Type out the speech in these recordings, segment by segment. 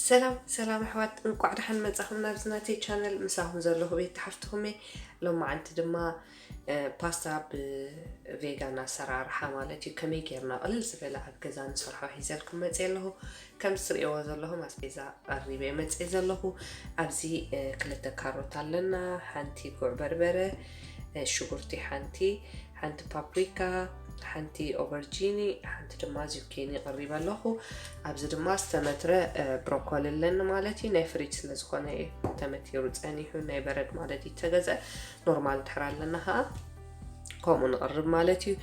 ሰላም ሰላም ኣሕዋት እንቋዕ ደሓን መጻኹም ናብዚ ናተይ ቻነል ምሳኹም ዘለኹ ቤት ተሓፍትኹም እየ ሎማዓንቲ ድማ ፓስታ ብቬጋን ኣሰራርሓ ማለት እዩ ከመይ ጌርና ቅልል ዝበለ ኣብ ገዛ ንሰርሖ ሒዘልኩም መፅእ ኣለኹ ከም ዝትርእይዎ ዘለኹም ኣስቤዛ ቀሪበ መፅእ ዘለኹ ኣብዚ ክልተ ካሮት ኣለና ሓንቲ ጉዕ በርበረ ሽጉርቲ ሓንቲ ሓንቲ ፓፕሪካ፣ ሓንቲ ኦቨርጂኒ፣ ሓንቲ ድማ ዚኬኒ ቐሪበ ኣለኹ። ኣብዚ ድማ ዝተመትረ ብሮኮሊ ኣለኒ ማለት እዩ። ናይ ፍሪጅ ስለ ዝኾነ ተመቲሩ ጸኒሑ ናይ በረድ ማለት እዩ ተገዝአ። ኖርማል ድሕር ኣለና ከዓ ከምኡ ንቕርብ ማለት እዩ።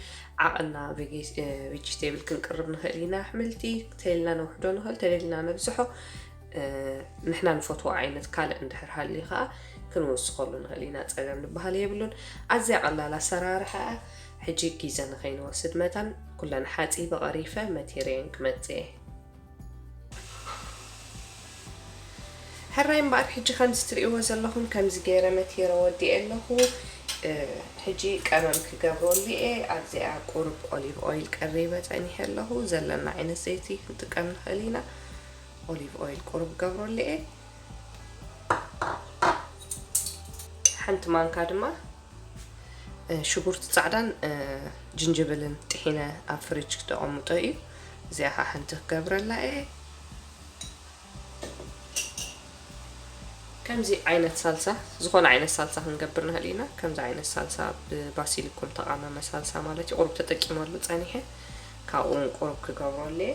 ዓቕና ቬጅቴብል ክንቅርብ ንኽእል ኢና። ኣሕምልቲ ተይልና ነውሕዶ ንኽእል ተደልና ነብዝሖ ንሕና ንፈትዎ ዓይነት ካልእ እንድሕር ሃልዩ ከዓ ክንውስኸሉ ንኽእል ኢና ፀገም ዝበሃል የብሉን ኣዝያ ቀላል ኣሰራርሓ እያ ሕጂ ጊዘ ንኸይንወስድ መታን ኩለን ሓፂበ ቐሪፈ መቴርየን ክመፅ እየ ሕራይ እምበኣር ሕጂ ከምዚ ትርእይዎ ዘለኹም ከምዚ ገይረ መቴረ ወዲኤ ኣለኹ ሕጂ ቀመም ክገብረሉ እየ ኣብዚኣ ቁርብ ኦሊቭ ኦይል ቀሪበ ፀኒሐ ኣለኹ ዘለና ዓይነት ዘይቲ ክንጥቀም ንኽእል ኢና ኦሊቭ ኦይል ቁሩብ ገብረሉ እየ ሓንቲ ማንካ ድማ ሽጉርቲ ፃዕዳን ጅንጅብልን ጥሒነ ኣብ ፍሪጅ ክተቐምጦ እዩ እዚኣ ከዓ ሓንቲ ክገብረላ እየ ከምዚ ዓይነት ሳልሳ ዝኾነ ዓይነት ሳልሳ ክንገብር ንኽእል ኢና ከምዚ ዓይነት ሳልሳ ብባሲሊኩም ተቃመመ ሳልሳ ማለት እዩ ቁሩብ ተጠቂመሉ ፀኒሐ ካብኡ ውን ቁሩብ ክገብረሉ እየ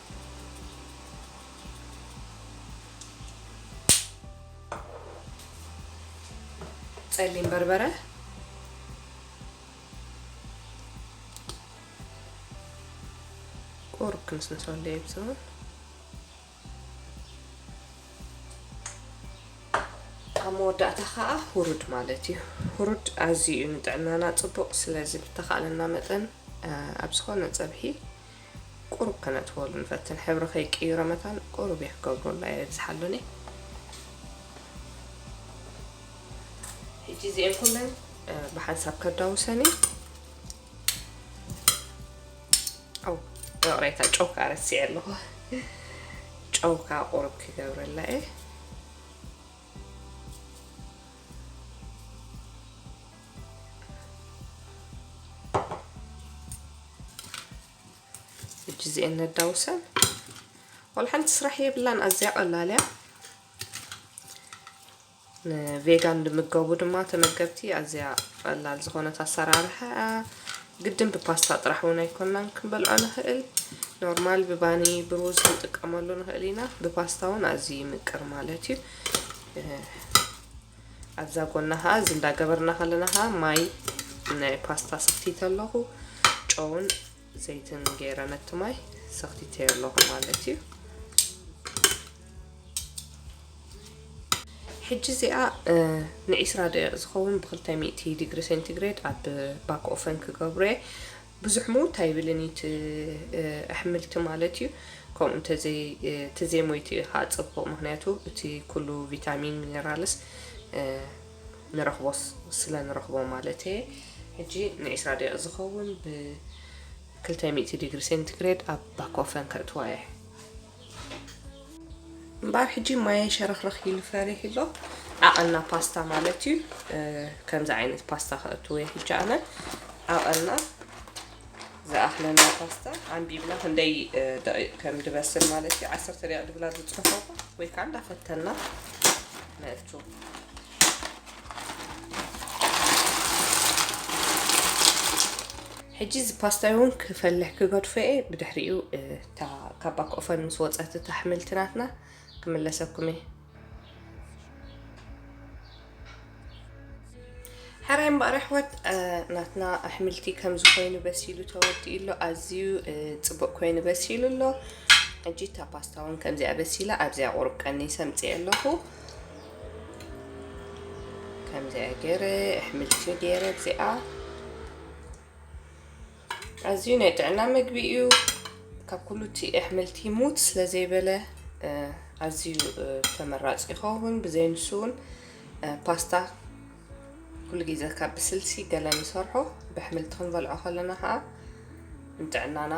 ፀሊም በርበረ ቁሩብ ክንስንሶ ኣለየ ብዝሆን ኣብ መወዳእታ ከዓ ሁሩድ ማለት እዩ ሁሩድ ኣዝዩ እዩ ንጥዕናና ፅቡቅ ስለዚ ብተካእለና መጠን ኣብ ዝኮነ ፀብሒ ቁሩብ ከነጥፍኦሉ ንፈትን ሕብሪ ከይቅይሮ መታን ቁሩብ እየ ክገብሮ እላ የብዝሓሉኒ ሕጂ እዚኤን ኩለን ብሓንሳብ ከዳውሰን እዩ ኣው ይቕሬታ ጨው ከዓ ረሲዐ ኣለኹ ጨው ከዓ ቁሩብ ክገብረላ እየ ሕጂ እዚኤን ነዳውሰን ዋላ ሓንቲ ስራሕ የብላን ኣዝያ ቀላል እያ ንቬጋን ዝምገቡ ድማ ተመገብቲ ኣዝያ ቀላል ዝኾነት ኣሰራርሓ ግድን ብፓስታ ጥራሕ እውን ኣይኮናን ክንበልዖ ንኽእል ኖርማል ብባኒ ብሩዝ ክንጥቀመሉ ንኽእል ኢና ብፓስታ እውን ኣዝዩ ይምቅር ማለት እዩ ኣብዛ ጎና ከኣ እዚ እንዳ ገበርና ከለና ከኣ ማይ ናይ ፓስታ ሰኽቲተ ኣለኹ ጨውን ዘይትን ገይረ ነቲ ማይ ሰኽቲተዮ ኣለኹ ማለት እዩ ሕጂ እዚኣ ንዒስራ ደቂቕ ዝኸውን ብክልተ ሚእቲ ዲግሪ ሴንቲግሬድ ኣብ ባክ ኦፈን ክገብሮ እየ ብዙሕ ምውት ኣይብልን እዩ እቲ ኣሕምልቲ ማለት እዩ ከምኡ እንተዘይ ትዘይ ሞይቱ እዩ ከኣ ጽቡቅ ምክንያቱ እቲ ኩሉ ቪታሚን ሚነራልስ ንረክቦ ስለ ንረክቦ ማለት እየ ሕጂ ን ዕስራ ደቂቅ ዝከውን ብ ክልተ ሚእቲ ዲግሪ ሴንቲ ግሬድ ኣብ ባኮፈን ከእትዋ እየ። እምበኣር ሕጂ ማየይ ሸረኽረኽ ኢሉ ፈሪህ ኣሎ ዓቐና ፓስታ ማለት እዩ ከምዚ ዓይነት ፓስታ ከእትዎ እየ ሕጂ ኣነ ዓቐና ዝኣኽለና ፓስታ ኣንቢብና ክንደይ ደቂቕ ከም ድበስል ማለት እዩ ዓሰርተ ደቂቕ ድብላ ዝፅሕፎ ወይ ከዓ እንዳፈተና ነእቱ ሕጂ እዚ ፓስታ እውን ክፈልሕ ክገድፎ እየ ብድሕሪኡ እታ ካብ ባክኦፈን ምስ ወጸት እታ ሕምልቲ ናትና ክምለሰኩም እየ። ሕራይ እምበኣር ኣሕዋት ናትና ኣሕምልቲ ከምዚ ኮይኑ በሲሉ ተወዲኡ ኣሎ ኣዝዩ ፅቡቅ ኮይኑ በሲሉ ኣሎ ሕጂ እታ ፓስታ እውን ከምዚኣ በሲላ ኣብዚኣ ቁሩብ ቀኒ ሰምፅየ ኣለኹ ከምዚኣ ገይረ ኣሕምልቲ ገይረ እዚኣ ኣዝዩ ናይ ጥዕና መግቢ እዩ ካብ ኩሉ እቲ ኣሕምልቲ ሙት ስለ ዘይበለ ኣዝዩ ተመራፂ ይኸውን ብዘይ ንሱ እውን ፓስታ ኩሉ ግዜ ካብ ብስልሲ ገለ ንሰርሖ ብኣሕምልቲ ክንበልዖ ከለና ከዓ ንጥዕናና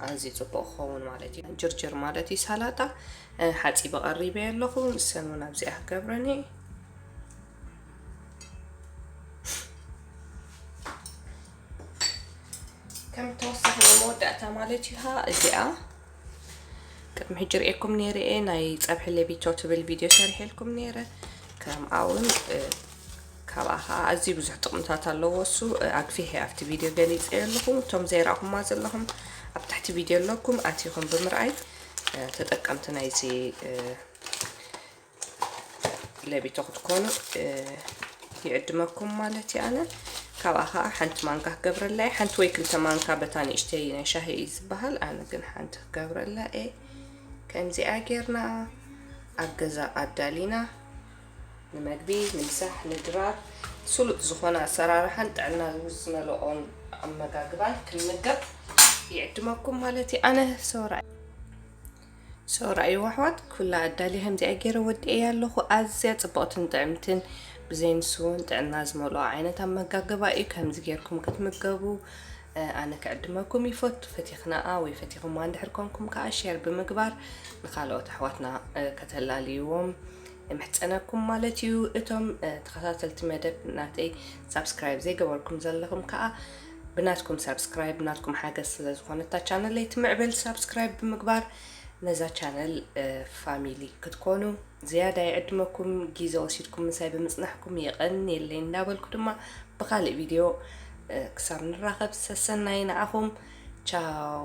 ኣዝዩ ፅቡቅ ክኸውን ማለት እዩ ጅርጅር ማለት እዩ ሳላጣ ሓፂቢ ቀሪበ ኣለኹ ንሰን እውን ኣብዚኣ ክገብረን እየ ከም ተወሳኺ ናይ መወዳእታ ማለት እዩ ሃ እዚኣ ቅድሚ ሕጂ ርእኩም ነይረ እየ ናይ ፀብሒ ሌቢቶ ትብል ቪድዮ ሰሪሐልኩም ነይረ ከምኣ እውን ካብኣ ከዓ ኣዝዩ ብዙሕ ጥቕምታት ኣለዎ እሱ ኣግፊሐ ኣብቲ ቪድዮ ገሊፀ ኣለኹ እቶም ዘይረእኹማ ዘለኹም ኣብ ትሕቲ ቪድዮ ኣለኩም ኣቲኹም ብምርኣይ ተጠቀምቲ ናይዚ ለቢቶ ክትኮኑ ይዕድመኩም ማለት እዩ ኣነ ካብኣ ከዓ ሓንቲ ማንካ ክገብረላ እየ ሓንቲ ወይ ክልተ ማንካ በታ ንእሽተይ ናይ ሻሂ እዩ ዝበሃል ኣነ ግን ሓንቲ ክገብረላ እየ ከምዚኣ ጌርና ኣብ ገዛ ኣዳሊና ንመግቢ ንምሳሕ ንድራር ስሉጥ ዝኾነ ኣሰራርሓን ጥዕና ዝመልኦን ኣመጋግባን ክንምገብ ይዕድመኩም ማለት እዩ ኣነ ሰውራ ሰውራ እዩ ኣሕዋት ኩላ ኣዳልየ ከምዚኣ ጌረ ወዲኤያ ኣለኹ ኣዝያ ጽብቕትን ጥዕምትን ብዘይ ንሱ እውን ጥዕና ዝመልኦ ዓይነት ኣመጋግባ እዩ ከምዚ ጌርኩም ክትምገቡ ኣነ ክዕድመኩም ይፈቱ ፈቲኽናኣ ወይ ፈቲኹማ እንድሕር ኮንኩም ከዓ ሼር ብምግባር ንካልኦት ኣሕዋትና ከተላልይዎም እምሕጸነኩም ማለት እዩ እቶም ተኸታተልቲ መደብ ናተይ ሳብስክራይብ ዘይገበርኩም ዘለኹም ከኣ ብናትኩም ሳብስክራይብ ናትኩም ሓገዝ ስለ ዝኾነ እታ ቻነለይ ትምዕብል ሳብስክራይብ ብምግባር ነዛ ቻነል ፋሚሊ ክትኮኑ ዝያዳ ይዕድመኩም ግዜ ወሲድኩም ምሳይ ብምጽናሕኩም የቐንየለይ እንዳበልኩ ድማ ብካልእ ቪድዮ ክሳብ ንራኸብ ሰሰናይ ንዓኹም ቻው